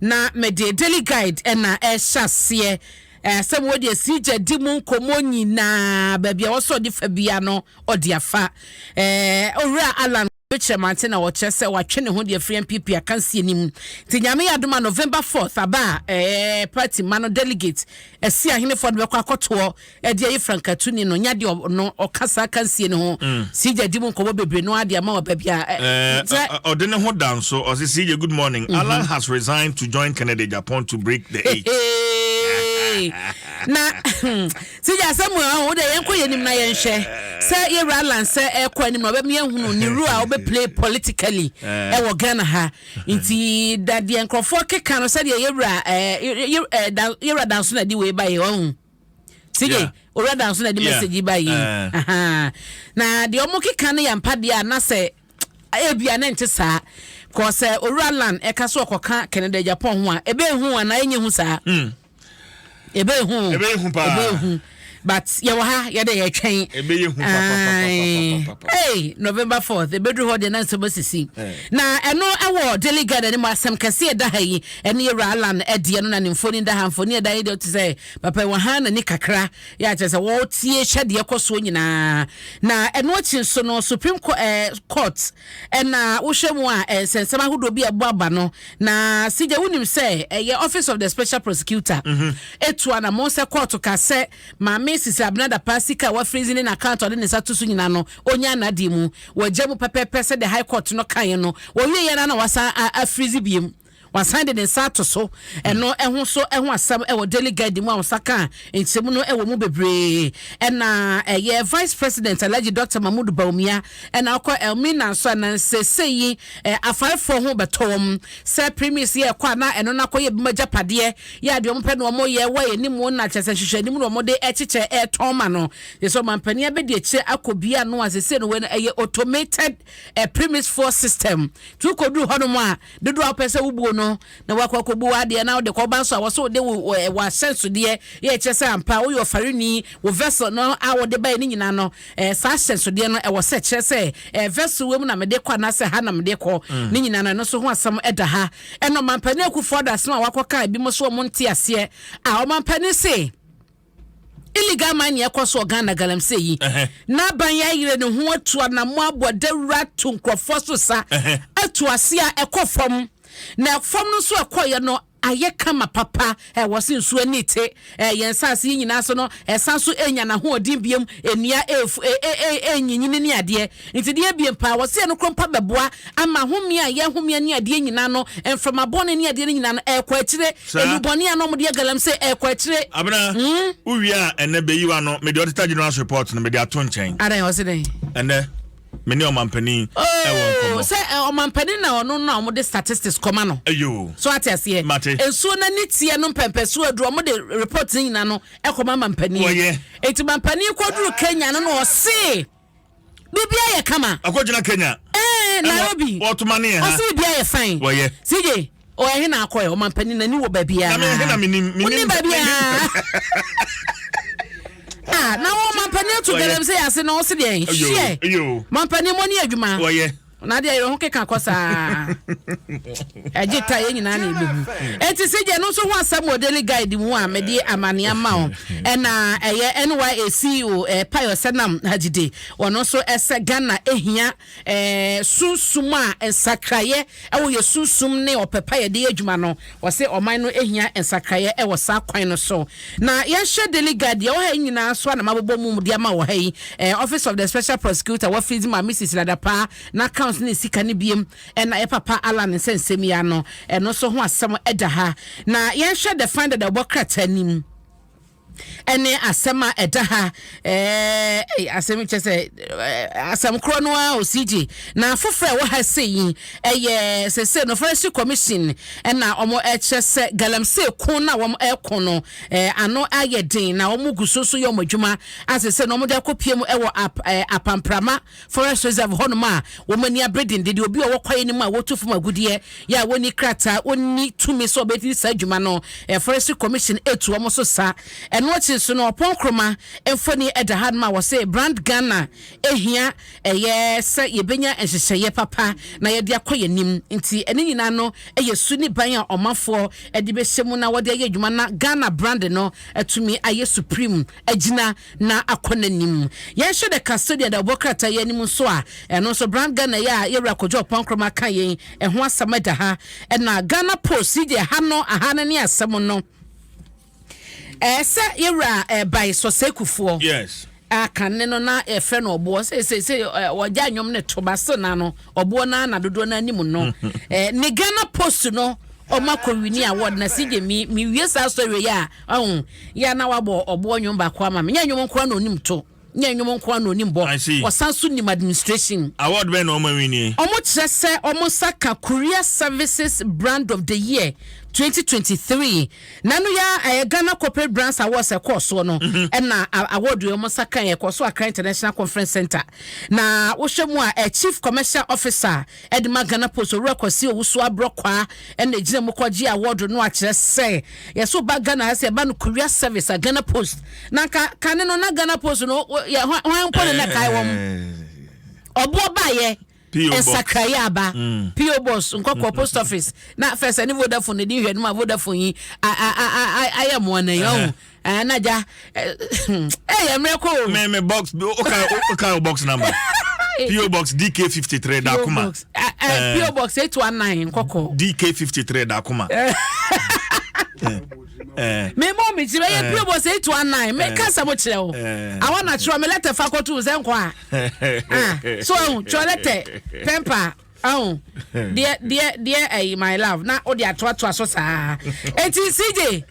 Na mede Daily Guide na ɛrehyɛ aseɛ. Ɛɛ, asɛm wɔ deɛ si gya di mu nkɔmmɔ nyinaa, baabi a wɔsɛ ɔde fa bia no, ɔde afa. Ɛɛ, owura Alan Kwabetwiremante na ɔkyerɛ sɛ watwe ne ho de afiri NPP akansie no mu. Nti Nyame yɛ adom a November 4th aba a, ɛɛ, party mma no delegate, Asiahenefoɔ no bɛkɔ akɔtoɔ ɛde ayi frankatuni no nya deɛ ɔno ɔka saa kansie no ho mm. sigya di mu nkɔmmɔ bebree no adeɛ ama ɔba bia ɔde ne ho da nso ɔse sigya good morning mm -hmm. alan has resigned to join kennedy japan to break the eight na hmm, sigya asɛm a wo dɛ yɛnkɔ yɛ anim na yɛnhwɛ sɛ yɛwura alan sɛ ɛkɔ anim na ɔbɛma yɛhunu ne ru a play politically ɛwɔ eh. ghana ha nti dadeɛ nkurɔfoɔ keka no sɛdeɛ yɛwura yɛwura danso na ɛde wei ba yɛ ɔhu Sidi yeah. owura dan so na de yeah. message ba yi uh-huh. na deɛ ɔmo keka no yɛ mpa deɛ a na sɛ ebia ne nte saa kɔ sɛ owura lan ɛka so ɔkɔka canada japan ho a ebe ehu anaa enye hu saa hmm. ebe ehu ebe ehu paa ebe ehu but yɛwɔ ha yɛde yɛtwɛn ebe ehu papa hey november fourth ebeduru hɔ deɛ na nsɛm asisi eh. na ɛno ɛwɔ daily garden ne mu asɛm kɛse ɛda ha yi. Ɛno yɛ wura Allan ɛdeɛ no na ne mfoni da ha mfoni ɛda yi deɛ ɔte sɛ papa yi wahan n'ani kakra yɛ akyerɛ sɛ wɔretie hyɛ deɛ ɛkɔ soɔ nyinaa na ɛno akyi nso no supreme court ɛɛ court ɛna wohwɛ mu a ɛnsɛnsɛm ahodoɔ bi a ɛbɔ aba no na sigya wonim sɛ ɛyɛ office of the special prosecutor etu anamɔn sɛ court ka sɛ maame sisi abena dapa sika a wafirizi ne n'account a ɔde ne nsa to so nyinaa no onya n'adeɛ mu wɔagya mu pɛpɛɛpɛ sɛ the high court no kaeɛ no wɔwie yɛ no na wasan afirizi biem Wasan de ne nsa ato so ɛno ɛho so ɛho asɛm ɛwɔ Daily Guide mu a wɔsa ka nkyɛmu no ɛwɔ mu bebree ɛna ɛyɛ Vice President Alhaji Dr. Mahmood Bawumia ɛna ɔkɔ Elmina nso ɛna nsese yi ɛ afarefoɔ ho bɛtɔ wɔn sɛ premise yɛ ɛkɔ a na ɛno nakɔ yɛ bima gyapadeɛ yɛ adeɛ wɔn pɛ na wɔn yɛ wɔ yɛ ne mu na kyɛsɛ nhyehyɛ anim na wɔn de ɛkyekyɛ ɛtɔn ma no yɛ sɛ ɔmampanin abɛdi akyire akɔ bia no a sese no wɛ no ɛyɛ automated ɛ premise foɔ system tu kɔduru hɔnom a Dodoɔ a wopɛ sɛ wobuo no na woakɔ akɔbu w'adeɛ na wode kɔba nso a, wɔ sɛ wode wo w'ahyɛnsodeɛ yɛ ɛkyerɛ sɛ ampa woyɛ ɔfarini, wo vessel no a wode baeɛ no nyinaa no, ɛɛ saa ahyɛnsodeɛ no ɛwɔ sɛ ɛkyerɛ sɛ ɛɛ vessel wei mu na mede kɔ anaasɛ ha na mede kɔ. Ne nyinaa no ɛno nso ho asɛm da ha. Ɛna Ɔmampanin Akuffo-Addo asɛm a wakɔka ebinom so wɔn nte aseɛ a Ɔmampanin se, Illegal mining ɛkɔ so wɔ Ghana galamsey yi. N'aban yɛ ayerɛ ne ho atu anamɔ abɔ dawura ato nkurɔfoɔ so sa atu ase a ɛkɔ fam. Na fam no nso ɛkɔeɛ no ayɛ kama papa. Ɛwɔ se nsuo ani te yɛn nsaase yi nyinaa so no ɛsan so enya n'ahoɔden biom. Nnua ɛfu ɛnyinyini ne adeɛ. Enti deɛ ebien paa, wɔ sɛ yɛn no koro mpa bɛboa ama home a yɛhome ani adeɛ nyinaa no, mframa bɔne ne adeɛ no nyinaa no, ɛrekɔ akyire. Nnubɔne a na wɔde yɛ galamsey, ɛrekɔ akyire. Abena, wo wie a, ɛnnɛ bɛyi wo ano. Mede Auditor General's report no, mede ato nkyɛn. Adɛn, ɔse dɛn? Ɛnnɛ, me ne ɔmampanin ɛwɔ oh, nkɔmmɔ. Sɛ eh, ɔmampanin na ɔno na wɔde statistics kɔma no. Ayo. So ate aseɛ. Mate. Nsuo no ani teɛ no mpɛmpɛsoɔ aduro, wɔde report no nyinaa no ɛkɔma mampanin. Wɔyɛ. Eti mampanin kɔduru Kenya no na ɔse. biribiara yɛ kama. akɔgyina kenya. ɛɛ nairobi wɔtoma ne yɛ ha ɔsi biribiara yɛ fine. wɔyɛ sije ɔyɛ he na akɔ yɛ ɔmampanin n'ani wɔ baabiara. na mɛ he na menim menim baabiara. ah na wɔn mampanin ato galamsey ase na ɔsi deɛ hyɛ mampanin mo ni adwuma. wɔyɛ. na adeɛ yɛrɛ ho keka kɔ saa ɛgye ta yɛn nyinaa na ɛbɛhu ɛnti sɛ gye no nso ho asɛm wɔ daily guide mu a mede amane ama wo ɛna ɛyɛ NYA CEO eh, Payo Senam Hajide wɔn nso ɛsɛ Ghana ɛhia eh, sunsum a nsakraeɛ ɛwɔ yɛ sunsum ne ɔpɛ pa yɛde adwuma no Ɔse ɔman no hia nsakraeɛ wɔ saa kwan no so. Na yɛnhwɛ Daily Guard deɛ ɛwɔ ha yi nyinaa so a na mabobɔ mu de ama wɔ ha yi. Eh, Office of the Special Prosecutor wɔ freeze ma Mrs. Ladapaa n'account ne sika no biem ɛna yɛ papa Allan nsɛnsɛm yi ano. Ɛno nso ho asɛm da ha. Na yɛnhwɛ The Finder deɛ ɔbɔ krataa nim. ɛne asɛm a ɛda ha ɛɛ asɛm kyɛ sɛ asɛm korɔ no ara osigye na afoforɔ a ɛwɔ ha se yi ɛyɛ sɛsɛ no forestry commission ɛna wɔn ɛkyerɛ sɛ galamsey ko na wɔn ɛko no ɛɛ ano ayɛ den na wɔn gu so so yɛ wɔn adwuma asɛsɛ na wɔn de akɔ pie mu ɛwɔ ap ɛɛ apamprama. Forest Reserve hɔnom a wɔn ani abere dendenden, obi a ɔwɔ kwaeɛ no mu a wɔtu fam agudeɛ yɛ a wɔnni krataa, wɔnni tumi sɛ wɔbɛdi saa dwuma no, Forestry Commission tu wɔn so sa. Ɛno akyi nso no, Ɔpɔn Nkrumah mfoni da hanom a wɔse Brand Ghana hia yɛ sɛ yɛbɛnya nhyehyɛeɛ papa na yɛde akɔ yɛn anim. Nti ne nyinaa no yɛ su ne ban a ɔmanfoɔ de bɛhyɛ mu na wɔde ayɛ adwuma na Ghana brand no atumi ayɛ supreme agyina na akɔ n'anim. Yɛnhyɛ da ka sɛdeɛ da wɔbɔ krataa yi anim nso a, ɛno nso Brand Ghana yi a yɛn Wura Kojo Ampong Nkrumah ka yɛn, ɛho asɛm ɛda ha. Ɛna Ghana Post yi deɛ ha no, aha no ne asɛm no. Ɛɛ sɛ yɛn Wura ɛɛ Bae Sosay Kufuor. Yes. Akanne no na yɛfrɛ no ɔboɔ sɛ sɛ sɛ ɔgya nnwom no to ba se na no ɔboɔ no na dodoɔ no anim no ne Ghana Post no ɔma kɔwini award na si gye me mewie saa sɔre yi a Ɔn, yɛ a na wabɔ ɔboɔ nnwom baako ama me. Nyɛ nnwom nko ara na onim to, nyɛ nnwom nko ara na onim bɔ. I see. Ɔsan nso nim administration. Award bɛn na wɔma win nie? Wɔkyerɛ sɛ wɔn nsa ka Korea Services Brand of the Year twenty twenty three. Na ɛno yɛ ara ɛyɛ Ghana Corporate Brands Awards a ɛkɔɔ soɔ no ɛna a- award wei wɔn nsa kaeɛ. Ɛkɔɔ so Accra International Conference Centre. Na wohwɛ mu a, ɛyɛ Chief Commercial Officer a Ɛde ma Ghana Post Owura Kwasi Owusu-Abrɔkwaa na egyina mu kɔgyee awɔɔdo no akyerɛ sɛ yɛ so ba Ghana ha sɛ ɛba no courier service a Ghana Post na nka kane no na Ghana Post no yɛ hwan mpo na na ɛkae wɔn ɔboɔ baeɛ nsakraeɛ aba PO Box Nkɔkɔɔ Post Office na fɛsɛ ne Vodafone na di nhwɛ no ma Vodafone yi ayɛ mmoa na yɛn Ah, na ja. Eh, eh, eh mre ko. Me me box. Okay, okay, box number. PO Box DK53 Dakuma. Eh, eh, PO Box 819 Koko. DK53 Dakuma. Eh. me mɔ me ti bɛyɛ pure bɔ sɛ eight one nine me kasa mo kyerɛ o awɔ na kyerɛ me lɛtɛ fa kɔtu sɛ nkɔ a ah, so ɛhu kyerɛ lɛtɛ pɛmpa ɛhu deɛ deɛ deɛ ɛyi my love na o de atoatoa so saa eti cj.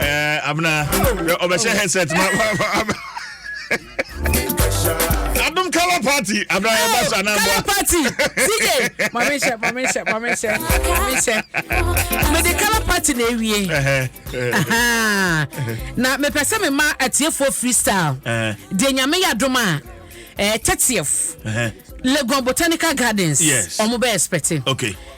Eh, abena ɔbɛhyɛ headset ma adom color party abena yɛba sa na mboa party tj mame hyɛ mame hyɛ mame hyɛ mame hyɛ mede color party na ewie na mepɛ sɛ mema atiefoɔ freestyle deɛ nyame yɛ adom a eh, tɛteɛf legon botanical gardens ɔmo bɛ expecting okay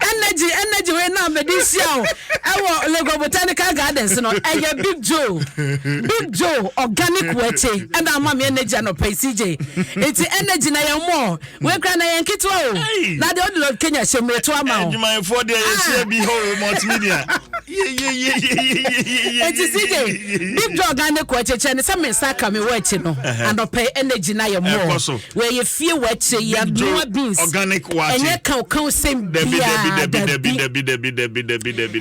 Energy energy wei na mede hyia o ɛwɔ Lagos Botanical Gardens no ɛyɛ Big Joe Big Joe organic wɔakye ɛna ama me energy anɔpa yi CJ nti energy na yɛn mɔ wei kura na yɛn ketewa o na deɛ ɔde lɔ Kenya hyɛ mu eto ama o. Adwumayɛfoɔ deɛ yɛhyia ah. bi hɔ multimedia. Eti CJ Big Joe organic wɔakye kyerɛ ne sɛ me nsa ka me wɔ akyi no anɔpa yi energy na yɛn mɔ Wɔyɛ fie wɔ akyire yi abnoa beans ɛnyɛ kaw kaw sɛm biaa dabi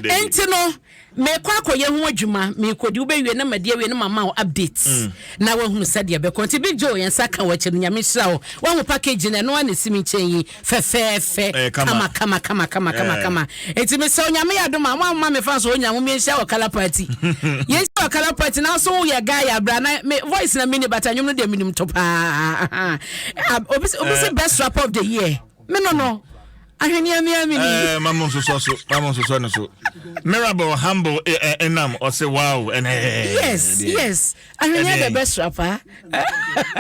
ɛnti no mekɔ akɔyɛ ho adwuma mekɔdi wobɛwie na madi awie na mama wo update mm. na wahunu sɛdeɛ bɛkɔ nti big joe yɛn nsa ka wɔ akyɛ no nyame hyira wo wahu package no ɛno a na ɛsi me nkyɛn yi fɛfɛɛfɛ eh, kama kama kama kama kama eh. kama eti mi sɛ onyame yɛ adum a mo ama mi fa so onya mo mi n hyɛ wɔ kala party yɛn hyɛ wɔ kala party na so yɛ guy yɛ abira na mi voice na mi ni bata nyom no deɛ mi nim to paa ah, obi obi sɛ eh. best rapper of the year mi no no ahweneɛ mi ami ni. ɛɛ mamu nsosɔ so mamu nsosɔ ne so mirabel humble ɛnam ɔsɛ wow ɛnɛ. yes yes ahweneɛ the best rapper.